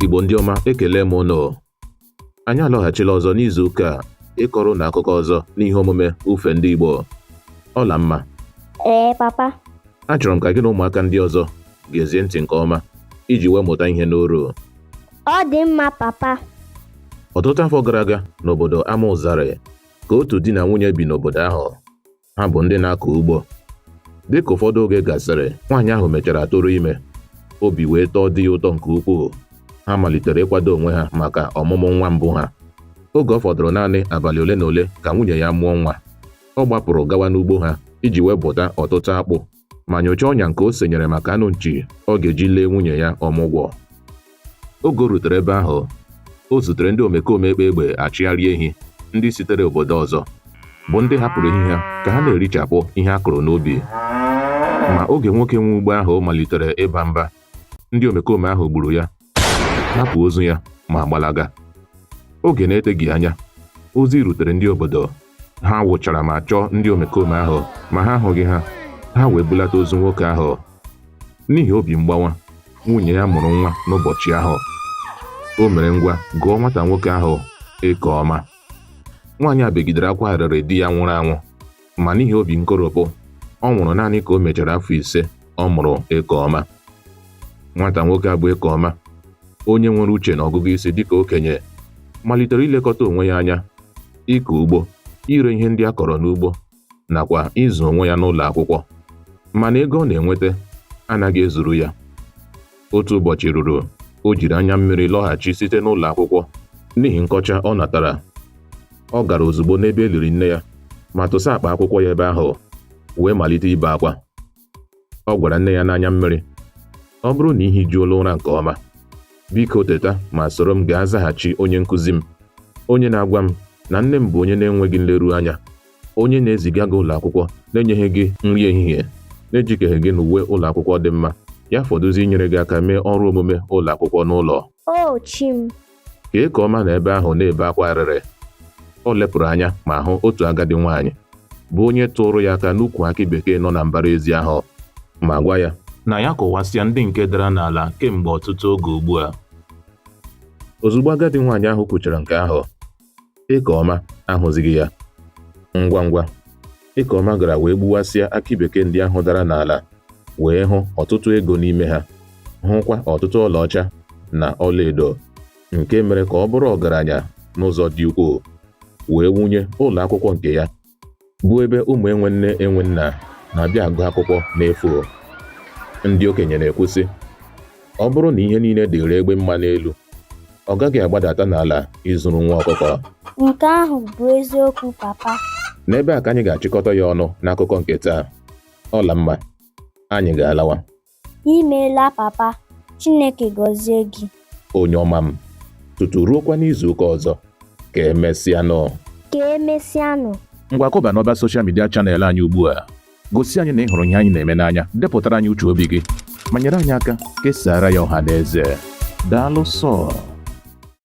Igbo ndị ọma ekele m ụnụ anyị alọghachila ọzọ n'izu ụka a ịkọrọ ụnụ akụkọ ọzọ n'ihe omume ufe ndị Igbo Ọlamma ee papa achọrọ m ka gị na ụmụaka ndị ọzọ gezie ntị nke ọma iji wee mụta ihe n'oru ọ dị mma papa ọtụtụ afọ gara aga n'obodo Amaụzarị ka otu di na nwunye bi n'obodo ahụ ha bụ ndị na-akọ ugbo dị ka ụfọdụ oge gasịrị nwaanyị ahụ mechara tụrụ ime obi wee tọọ di ya ụtọ nke ukwuu ha malitere ịkwado onwe ha maka ọmụmụ nwa mbụ ha oge ọ fọdụrụ naanị abalị ole na ole ka nwunye ya mụọ nwa ọ gbapụrụ gawa n'ugbo ha iji wee bụta ọtụtụ akpụ ma nyochaa ọnya nke o senyere maka anụ nchi ọ ga-eji lee nwunye ya ọmụgwọ oge o rutere ebe ahụ o zutere ndị omekome akpa egbe achịgharị ehi ndị sitere obodo ọzọ bụ ndị hapụrụ ehi ha ka ha na-erichapụ ihe a kụrụ n'ubi ma oge nwoke nwe ugbo ahụ malitere ịba mba ndị omekome ahụ gburu ya hapụ ozu ya ma gbalaga oge na-eteghị anya ozi rutere ndị obodo ha wụchara ma chọọ ndị omekome ahụ ma ha ahụghị ha ha wee bulata ozu nwoke ahụ n'ihi obi mgbawa nwunye ya mụrụ nwa n'ụbọchị ahụ o mere ngwa gụọ nwata nwoke ahụ Ekeọma nwaanyị a begidere akwa arịrị di ya nwụrụ anwụ ma n'ihi obi nkoropụ ọ nwụrụ naanị ka o mechara afọ ise ọ mụrụ Ekeọma nwata nwoke a bụ Ekeọma onye nwere uche na ọgụgụ isi dịka okenye malitere ilekọta onwe ya anya ịkọ ugbo ire ihe ndị a kọrọ n'ugbo nakwa ịzụ onwe ya n'ụlọ akwụkwọ mana ego ọ na-enweta anaghị ezuru ya otu ụbọchị ruru o jiri anya mmiri lọghachi site n'ụlọ akwụkwọ n'ihi nkọcha ọ natara ọ gara ozugbo n'ebe e liri nne ya ma tụsa akpa akwụkwọ ya ebe ahụ wee malite ibe akwa ọ gwara nne ya n'anya mmiri ọ bụrụ na i hijuola ụra nke ọma biko teta ma soro m gaa zaghachi onye nkụzi m onye na-agwa m na nne m bụ onye na-enweghị nleru anya onye na-eziga gị ụlọ akwụkwọ na-enyeghị gị nri ehihie na-ejikeghị gị n'uwe ụlọ akwụkwọ dị mma ya fọdụzi inyere gị aka mee ọrụ omume ụlọ akwụkwọ n'ụlọ O chi m, ka Ekeọma nọ ebe ahụ na-ebe akwa arịrị o lepụrụ anya ma hụ otu agadi nwaanyị bụ onye tụrụ ya aka n'ukwu akị bekee nọ na mbara ezi ahụ ma gwa ya na ya kụwasịa ndị nke dara n'ala kemgbe ọtụtụ oge ugbu a ozugbo agadi nwaanyị ahụ kwuchara nke ahụ Ekeọma ahụzighị ya. Ngwa ngwa, Ekeọma gara wee gbuwasịa akị bekee ndị ahụ dara n'ala wee hụ ọtụtụ ego n'ime ha, hụkwa ọtụtụ ọlaọcha na ọlaedo nke mere ka ọ bụrụ ọgaranya n'ụzọ dị ukwuu wee wunye ụlọ akwụkwọ nke ya bụ ebe ụmụ enwe nne enwe nna na-abịa agụ akwụkwọ n'efu ndị okenye na-ekwu sị ọ bụrụ na ihe niile dịịrị egbe mma n'elu ọ gaghị agbadata n'ala izuru nwa ọkụkọ Nke ahụ bụ eziokwu papa. n'ebe a ka anyị ga-achịkọta ya ọnụ n'akụkọ nke taa Ọlamma anyị ga-alawa Imeela papa, Chineke gọzie gị. Onye ọma m, tutu ruokwa n'izu ụka ọzọ, ka emesịanụ. Ka emesịanụ. Ngwa kụba n'ọba soshal midia chanel anyị ugbu a. Gosi anyị na ị hụrụ ihe anyị na-eme n'anya, depụtara anyị uche obi gị, ma nyere anyị aka kesaara ya ọha na eze. Daalụ sọọ.